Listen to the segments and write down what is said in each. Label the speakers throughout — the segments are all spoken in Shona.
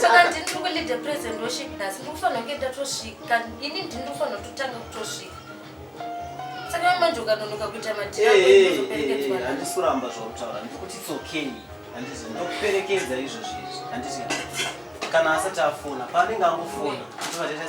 Speaker 1: saka
Speaker 2: ndini tiri kuleader present worship nhasi ndiri kufanira kuenda tosvika ini ndini ndofanira kutotanga kutosvika saka manje ukanonoka kuita matiandisi kuramba zvautaura
Speaker 1: ndikuti its okay handizvo ndokuperekedza izvozvo izvi handizvo kana asati afona paanenge angofona ndivatete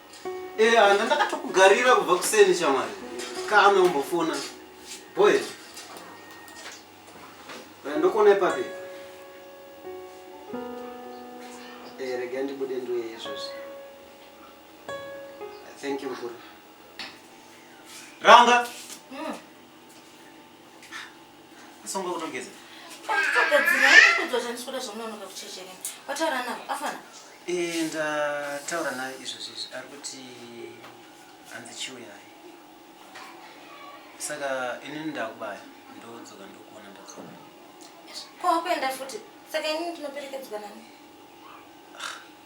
Speaker 1: Eh, ana ndakatokugarira kubva kuseni shamwari. Kana umbofona. Boy. Eh, Ndokuona ipapi. Eh, rega ndibude ndoye izvozvi. Thank you mkuru. Ranga. Asonga kutongeza.
Speaker 2: Eh, ndataura
Speaker 1: naye izvo zvizvi ari kuti hanzi chiuya naye saka inini ndakubaya ndodzoka ndokuona ndadzoka
Speaker 2: kwakuenda futi saka inini ndinoperekedzwa nani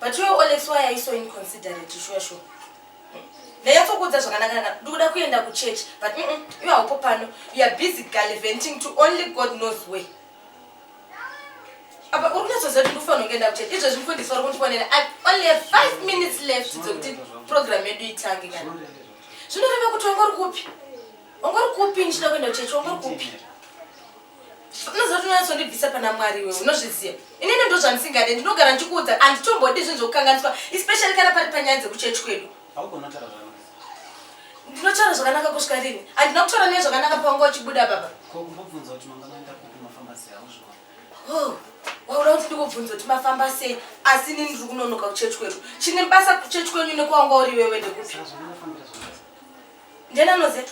Speaker 2: But iwe Olex why are you so inconsiderate sure sure? ndanyatsokuudza zvakanaka naka ndikuda kuenda kuchurch but mm -mm, iwe haupo pano you are busy galiventing to only god knows way apa uri kunyatsoziva kuti ndikufanira kungeenda kuchurch izvezvi mfundisi vari kundifonera i only have five minutes left dzekuti program yedu itange kana zvinoreva kuti wangori kupi wangori kupi ndichida kuenda kuchurch wangori kupi unozotonyatsondibvisa pana mwari iwe unozviziva inini ndo zvandisingade ndinogara ndichikuudza handitombodi zvinhu zvokukanganiswa especially kana pari panyaya dzekuchechi kwedu ndinotaura zvakanaka kusvika rini handina kutaura naye zvakanaka pawanga uchibuda baba oh, wauda kuti ndikubvunza kuti mafamba sei asi nini ndiri kunonoka kuchechi kwedu chine basa kuchechi kwenyu nekwawanga uri iwewe ndekupi ndiani anoziva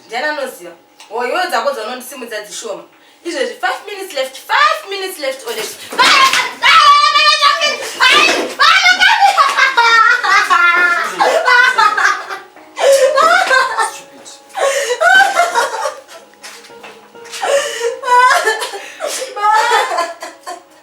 Speaker 2: ndiani anoziva hoyoyo dzako dzaunondisimudza dzishoma izvezvi five minutes left five minutes left or left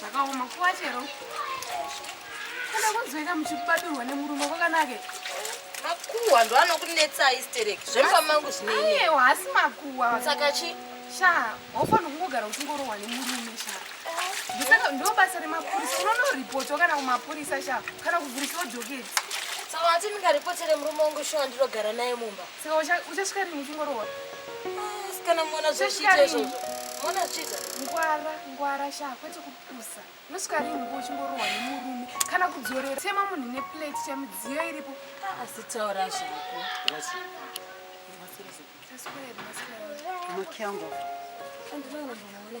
Speaker 2: zvakaoma kuva chero kana kunzweka muchikubadurwa nemurume kwakanake makuhwa ndo anokunetsai stereki zvemba mangu zvineio hasi makuhwa
Speaker 3: saka chi
Speaker 2: sha hofana
Speaker 3: kungogara uchingorohwa nemurume sha ndosaka ndo basa remapurisa unonoripotwa kana kumapurisa sha kana kuvhurisiwa joketi saka ati
Speaker 2: ndingaripotire murume wangu shuwa ndinogara naye mumba Saka ucha uchasvika rini
Speaker 3: uchingorowa? Ah, sikana
Speaker 2: mwana zvichita izvozvo. Mwana zvichita. Ngwara, ngwara
Speaker 3: sha kwete kupusa. Unosvika rini ngo uchingorowa nemurume kana kudzorera sema munhu ne plate cha midziyo iripo. Ah, asi taura
Speaker 2: zvako. Rasi. Taswera,
Speaker 1: taswera. Makiango. Andinoona ndinoona.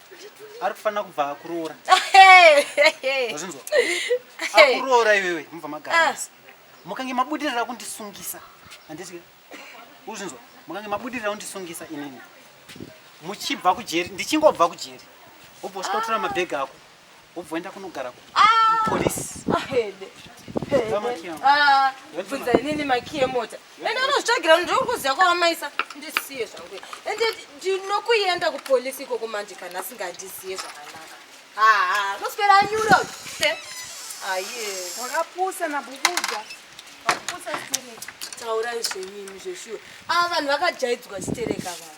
Speaker 1: ari kufanira kubva akuroora azinzwa akuroora iwewe mubva magarasi ah. mukange mabudirira kundisungisa handiti uzvinzwa mukange mabudirira kundisungisa inini muchibva kujeri ndichingobva kujeri wobva usvika kutora mabhegi ako Ubvoenda kunogara ku ah! police. Ah, hede.
Speaker 2: Ah, bvunza inini makiye mota ende unozvitsvagira kuti ndikuziva kwavamaisa ndisiye zvangu ende ndinokuenda kupolisi ikoko manje kana asingandiziye zvakanaka haa ah, noswera anyuro aye wakapusa
Speaker 3: nabubudza wakapusa stereka taurai zvenyini
Speaker 2: zveshuwa ava vanhu vakajaidzwa stereka vaa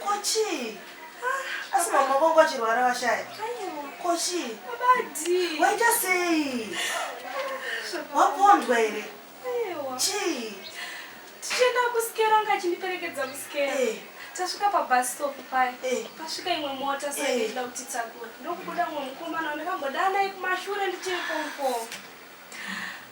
Speaker 4: Ko chii? Ah, Asi mama vangu vachirwara vashaya. Ko chii?
Speaker 3: Waita sei?
Speaker 4: Wapondwa here? Chii?
Speaker 3: Tichienda kuskero anga achindiperekedza kuskero. Hey. Eh. tasvika pabus stop paya eh. pasvika imwe mota saida eh. kutitakura ndokubuda mumwe mukomana wandakambodaa naye kumashure ndichiri pomupoma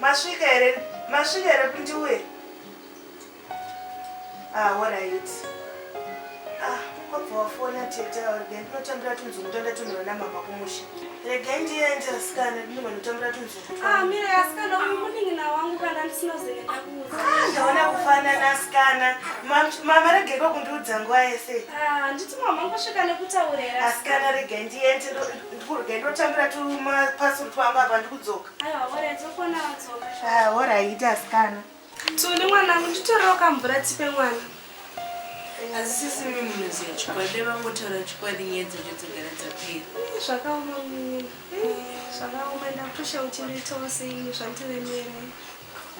Speaker 4: Masvika here? Masvika here kundiwe? Ah, all right. Ah, kwabva wafona tete auri gani tinotambira tunzungu toenda tonhora namama kumusha. Regai ndiende asikana ndinhu vanotambira tunzungu. Ah, mira asikana uyu
Speaker 3: munin'ina wangu kana ndisina zene ndakuudza. Ah, ndaona kufanana
Speaker 4: asikana. Mama regai kwakundiudza nguva yese. Ah, handiti mama
Speaker 3: ngosvika nekutaurira. Asikana regai
Speaker 4: ndiende ndikurega ndotambira tumapasuru twangu apa ndikudzoka.
Speaker 3: hora aita
Speaker 4: asikana tuni mwanangu
Speaker 3: nditorewo kamvura tipe mwana
Speaker 5: hazisisi mi munoziva chikwadi vangotaura chikwadi nyaya dzacho dzogara dzapera zvakaoma
Speaker 3: mimi zvakaoma ndakutosha kuti nditoseini zvandiremere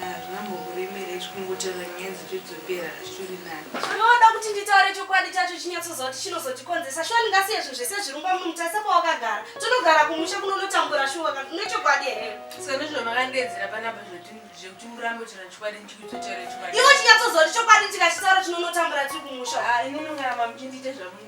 Speaker 3: Hazvina
Speaker 5: mbokuremera izvi kungotaura nyaya dzichidzokera hazvitori nani. Unoda kuti nditaure
Speaker 3: chokwadi chacho chinyatsoziva kuti chinozotikonzesa shuwa ndingasiye zvinhu zvese zvirumba munhu taisa pawakagara tonogara kumusha kunonotambura shuwa kana une chokwadi here Saka ndizvo makandiedzera
Speaker 5: panapa zvoti zvekuti urambe kutaura chokwadi ndichikuzotaura chokwadi. iwe chinyatsoziva kuti chokwadi
Speaker 3: tikachitaura tinonotambura tiri kumusha Ah, ini mungaramba
Speaker 5: muchindiita zvamunoda.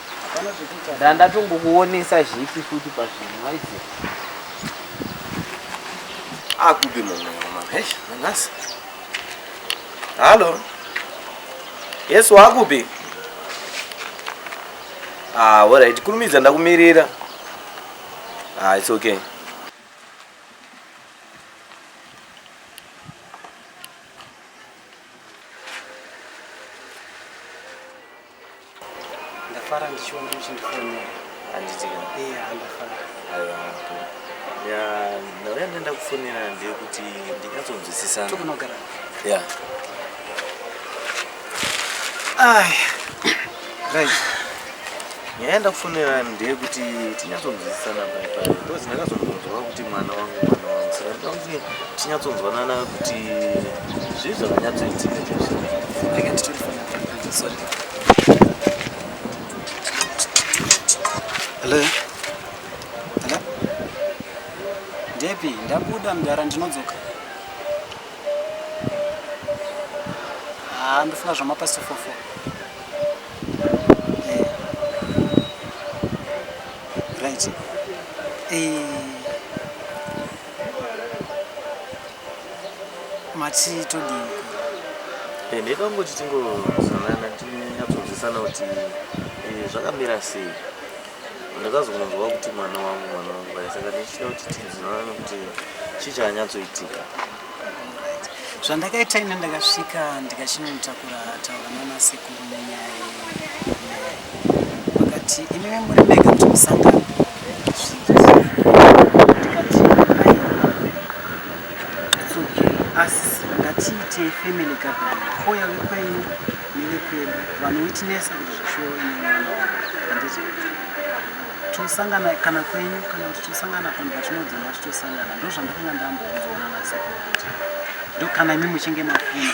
Speaker 6: ndandatongokuonesa zvese futi pazvinhu maizi
Speaker 7: akupi mumweomamhesha nanhasi hallo yesu wakupi ah, orit kurumidza ndakumirira ah, its okay
Speaker 1: Ndafara ndichiona muchindifonera. Handiti ka?
Speaker 7: Iya, handafara.
Speaker 1: Aiwa. Ya,
Speaker 7: ndauya ndenda kufonera ndeyekuti ndinyatsonzwisisana. Tokunogara.
Speaker 1: Ya. Ai. Right.
Speaker 7: Nyaya yandakufonera ndeyekuti tinyatsonzwisisana pai pai. Because ndakazongonzwa kuti mwana wangu mwana wangu. Saka ndinoda kuti tinyatsonzwanana kuti zvii zvakanyatsoitika. Ndakati
Speaker 1: Ndepi ndabuda mdara ndinodzoka ah, ndofuna zvamapasifofo eh. right eh. mati todii eh,
Speaker 7: ndida kungoti tingozanana tinyatsonzwisana kuti eh, zvakamira sei ndakazokunzwa kuti mwana wangu mwana wangu bai saka ndichida kuti tinzwanane kuti chii chakanyatsoitika
Speaker 1: zvandakaita ine ndakasvika ndikachinomutakura taura nanasekuru vakati imimi muri mega kuti musangano asi ngatiitei family gathering kouya vekwenyu nevekwedu vanowitnesa kuti zvashowo inemwana handiti tosangana kana kwenyu kana kuti tosangana panhu patinodzona titosangana ndozvandakanga ndambokuzoona nasekuru kuti ndokana imi muchinge mafuna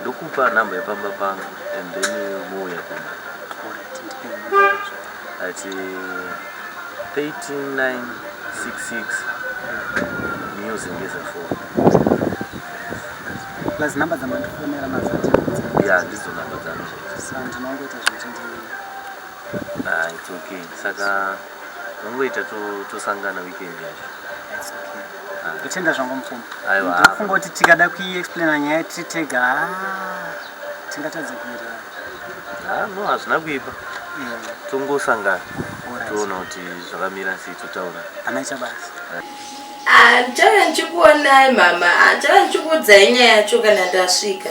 Speaker 7: Ndokupa number yepamba pangu and then muuya kumba. Ati 13966 news ngeza phone.
Speaker 1: Plus number za mandifonera nazo ati. Yeah, ndizo
Speaker 7: number dzangu. Sandi nongoita
Speaker 1: zvichinzi.
Speaker 7: Ah, it's okay. Saka so, Vangoita tosangana weekend yacho. Ah.
Speaker 1: Ndotenda zvangu mupfumi. Aiwa. Ndofunga kuti
Speaker 7: tikada
Speaker 1: kuiexplaina nyaya tiri tega ah, tingatadza kuita. Ah, no hazvina kuipa.
Speaker 7: Tongosangana. Toona kuti zvakamira sei totaura. Ana chabasa. Ah,
Speaker 2: ndichauya ndichikuonai mama. Ah, ndichauya ndichikuudzai nyaya yacho kana ndasvika.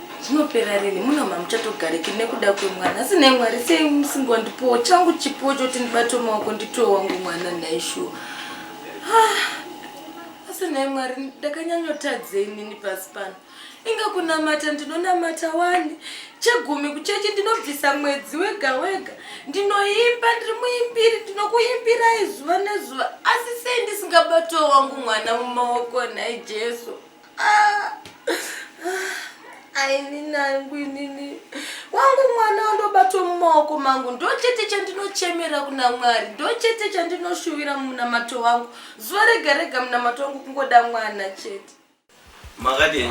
Speaker 2: zvinopera rini muno mamuchatogariki nekuda kwemwana asi nhai mwari sei musingondipowo changu chipo choti ndibate maoko nditowe wangu mwana nhai shuwa ah, asi nhai mwari ndakanyanyotadzei nini pasi pano inga kunamata ndinonamata wani chegumi kuchechi ndinobvisa mwedzi wega wega ndinoimba ndiri muimbiri ndinokuimbirai zuva nezuva asi sei ndisingabatowo wangu mwana mumaoko nhai jesu ainangu
Speaker 5: inini wangu mwana wandobatwa mumaoko mangu ndochete chandinochemera kuna mwari ndochete chandinoshuvira munamato wangu zuva rega rega munamato wangu kungoda mwana chete
Speaker 8: makadii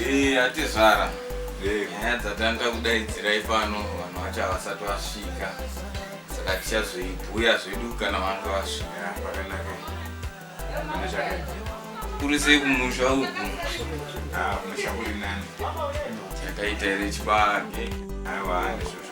Speaker 9: Eh, atezvara eh. nyaya dzatanda kudaidzirai pano vanhu vacho havasati vasvika saka tichazoibhuya zvedu kana vanga vasvika pakanaka
Speaker 8: kuri sei
Speaker 9: kumusha uku ah,
Speaker 8: musha kuri nani takaita
Speaker 9: here chibage aiwa
Speaker 8: ndizvozvo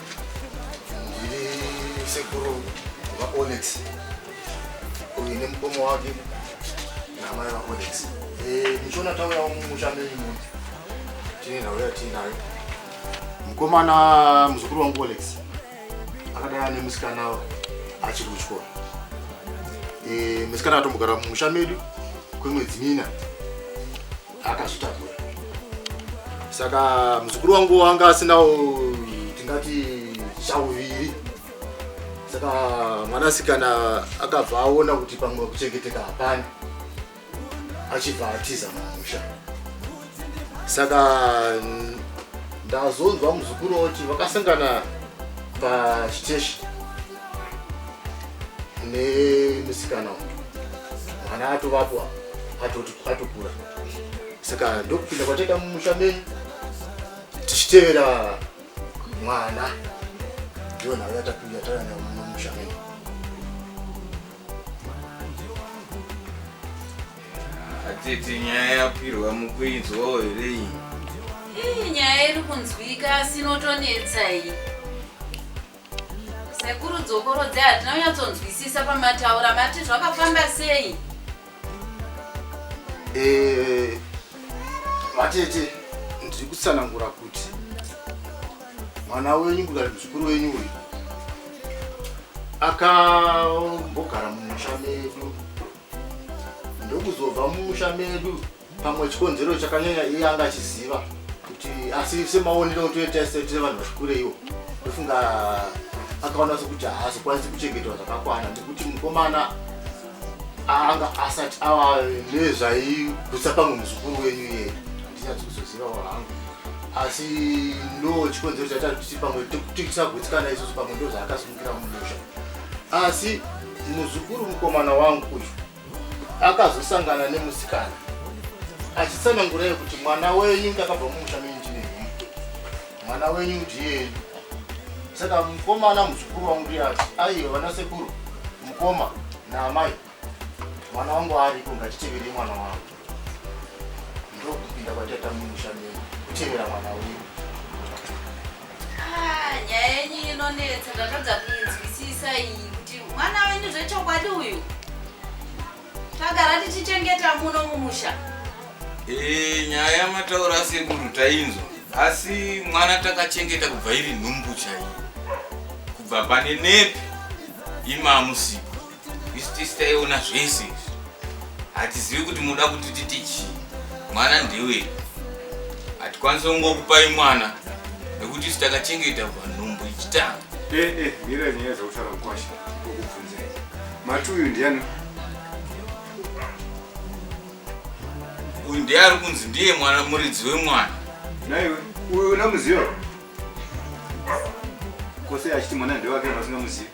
Speaker 10: sekuru vaonex uyu nemukomo wake namai vaonex eh, muchiona tauyawo mumusha menyu muno tine nhau yatiinayo mukomana muzukuru wangu olex akadai ane musikana achiri kuchikoro eh, musikana atombogara mumusha medu kwemwedzi mina akazvitakura saka muzukuru wangu wanga asinawo tingati chauviri saka mwanasikana akabva aona kuti pamwe kuchengeteka hapani achibva atiza mumusha saka ndazonzwa muzukuru oti vakasangana pachiteshi nemusikana uyu mwana atovapo atokura saka ndokupinda kwataita mumusha menyu tichitevera mwana ndiyo nhau yatapinda taana mumusha menyu
Speaker 9: atete nyaya yapirwa mukuinzwawo here iyi iyi
Speaker 2: nyaya iri kunzwika asi inotonetsa iyi Sekuru dzokorodzai hatina kunyatsonzwisisa pamataura mati zvakafamba sei?
Speaker 10: Eh, vatete ndiri kutsanangura kuti mwana wenyu kudari muzukuru wenyu uyu akambogara mumusha medu ndokuzobva mumusha medu pamwe chikonzero chakanyanya iye anga achiziva kuti asi semaonero otoita state sevanhu vachikureiwo ndofunga akaona sekuti haazokwanisi kuchengetwa zvakakwana nekuti mukomana anga asati ava nezvaigutsa pamwe muzukuru wenyu iye handinyatsi kuzozivawo hangu asi ndo chikonzero chaita kuti pamwe tisagutsikana isusu pamwe ndo zvaakasimukira mumusha asi muzukuru mukomana wangu uyu akazosangana nemusikana achitsanangura yekuti mwana wenyu ndakabva mumusha menyu ndine mwana wenyu ndiye saka mukomana muzukuru wangu ndiyati aiyo vana sekuru mukoma naamai mwana wangu ariko ngatitevere mwana wangu ndokupinda kwatata mumusha menyu kutevera mwana wenyu
Speaker 2: ah, nyaya yenyu inonetsa ndatadza kuinzwisisa iyi kuti mwana wenyu zvechokwadi uyu tagara tichichengeta
Speaker 9: muno mumusha eh,
Speaker 2: nyaya
Speaker 9: yamataura
Speaker 2: sekuru
Speaker 9: tainzwa asi mwana takachengeta kubva iri nhumbu chaiyo kubva pane nepi imamusipo Isu tisi taiona zvese izvi. Hatizivi kuti muda kuti titi chii. Mwana ndewe. Hatikwanise kungokupai mwana nekuti isu takachengeta kubva nhumbu ichitanga. Eh eh, mira
Speaker 8: nyaya dzakutaura mukwasha. Kokubvunzai. Mati uyu ndiani?
Speaker 9: Uyu ndiye ari kunzi ndiye mwana muridzi wemwana. Naiwe,
Speaker 8: uyu unamuziva? kose achiti mwana ndewake vasingamuzivi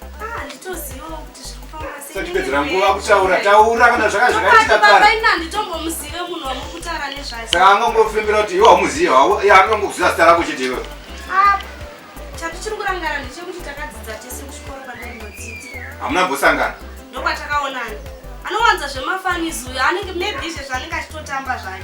Speaker 3: sachipedzera nguva kutaura
Speaker 8: taura kana zvaka zvakaitika
Speaker 3: karesaka angangofembera kuti
Speaker 8: iwe haumuzivi akangokuziva zita rako chete iwe
Speaker 3: ah, hamuna mbosangana
Speaker 8: ndokwatakaonana
Speaker 3: anowanza zvemafanizuyo anenge maybe izvezvo anenge achitotamba zvayo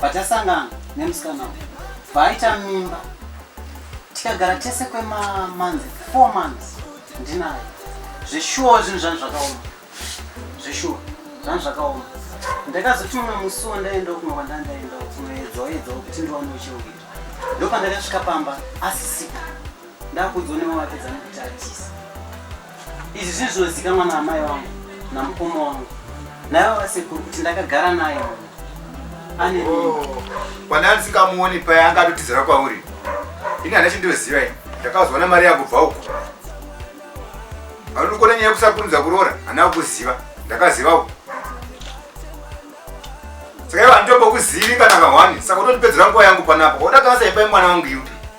Speaker 1: Patasangana nemusikana uyu paaita mimba tikagara tese kwemamanzi four months ndinayo zveshuwa zvinhu zvanhu zvakaoma zveshuwa zvanhu zvakaoma ndakazoti mumwe musi wandaenda kumwe kwandandaenda kunoedzawo edzawo kuti ndiwane uchiuita ndopandakasvika pamba asisipo Ndakudzo ne mama pedza nekutachisa. Izvi zvinhu zvinozikanwa na amai wangu na mukoma wangu. Naye baba sekuru kuti ndakagara naye. Ane mimba. Oh,
Speaker 8: Kwana ndisikamuoni paya anga atotizira kwauri. Ini hana chindoziva ini. Ndakazoona mari yakubva uko. Anokona nyaya kusakurumidza kuroora, hana kuziva. Ndakaziva uko. Saka iwe anditombokuzivi kana kahwani, saka unondipedzera nguva yangu panapa. Waona kasa ipai mwana wangu iwe.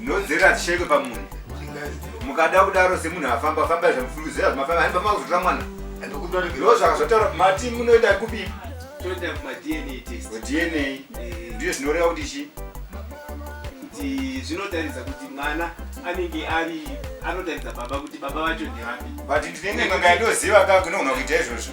Speaker 8: nhodzera hadzishekwe pamunhu mukada kudaro semunhu afamba famba zvamufungidzira zvimafamba haimba makuzotora mwana ndo zvakazotaura mati munoenda kupi
Speaker 11: dna
Speaker 8: ndiyo zvinoreva kuti chi kuti
Speaker 11: zvinotaridza kuti mwana anenge ari anotaridza baba kuti baba vacho ndevapi but ndinenge nganga
Speaker 8: ndoziva ka kunogona kuita izvozvo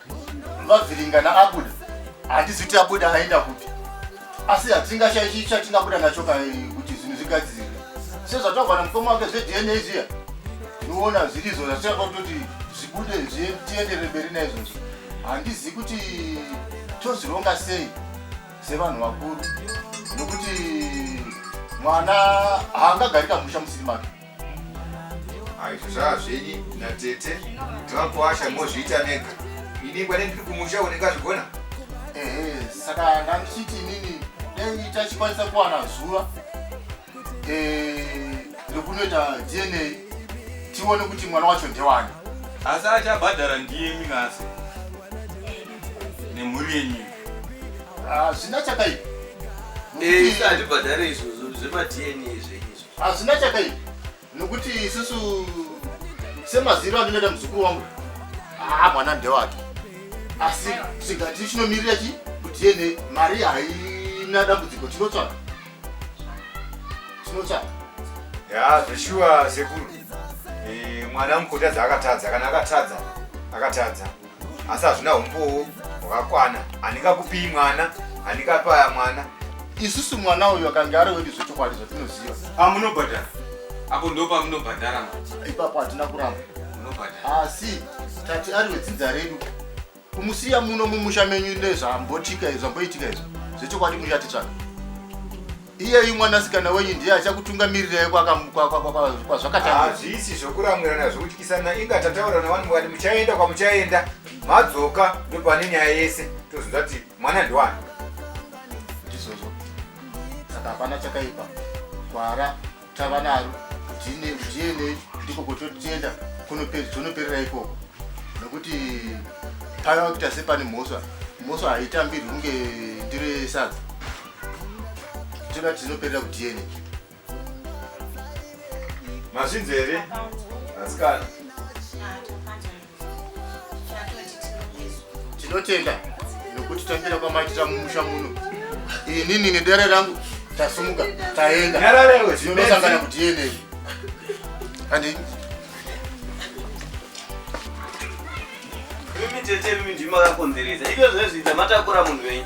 Speaker 10: vavhiringana abuda hatizi kuti abuda aenda kupi asi hatingashaichi chatingabuda nacho ka kuti zvinhu zvigadzirire sezvataurwa namukoma wake zvedna zviya tinoona zvirizo zvatingafa kutoti zvibude tiendere mberi naizvozvo handizivi kuti tozvironga sei sevanhu vakuru nokuti mwana haangagarika musha musiri make
Speaker 8: aizvo zvava zvenyi natete zvavakuasha mozviita mega ini kwane ndiri kumusha unenge azvigona ehe
Speaker 10: saka ndandichiti inini dai tachikwanisa kuwana zuva eh, rekunoita dna tione kuti mwana wacho ndewani asi achabhadhara
Speaker 9: ndiye minasi nemhuri yenyu hazvina
Speaker 10: chakaipa Eh, isati bhadhare
Speaker 12: izvozvo zvemadna zveizvo Hazvina chakaipa
Speaker 10: nokuti isusu semaziro andinoita muzukuru wangu haa mwana ndewake asi tingati chinomirira chi kuti yene mari haina dambudziko tinotsvaka tinotsvaka
Speaker 8: ya zveshuwa sekuru Eh, mwana mukotadza akatadza kana akatadza akatadza asi hazvina umbowo hwakakwana handingakupii mwana handingapaya mwana isusu mwana
Speaker 10: uyu akange ari wedu zvechokwadi zvatinoziva amunobhadhara
Speaker 9: ah, apo ndo pamunobhadhara ipapo hatina
Speaker 10: kuramba munobhadhara asi ah, tati ari wedzinza redu kumusiya muno mumusha menyu nezvambotika izvo zvamboitika izvo zvechokwadi muchatitsvaga iyeyu mwanasikana wenyu ndiye achakutungamirirai kwazvakatanga hazvisi
Speaker 8: zvokuramwirana zvokutyisana inga tataurana wani mukati muchaenda kwamuchaenda madzoka ndopane nyaya yese tozonza kuti mwana ndiwani
Speaker 10: ndizvozvo saka hapana chakaipa kwara tava naro ndienei ndiko kototenda tonoperera ikoko nokuti pava kuita sepane mhosva mhosva haitambirwi kunge ndiro yesadza toda kuti tinoperera kudiene
Speaker 8: mazvinzi here asikana
Speaker 10: tinotenda nokuti tambira kwamaitira mumusha muno inini nedare rangu tasumuka taenda tinosangana kuti yenei andi
Speaker 12: mimi tete mimi ndimakakonzeresa ivyo zvezviita matakura munhu wenyu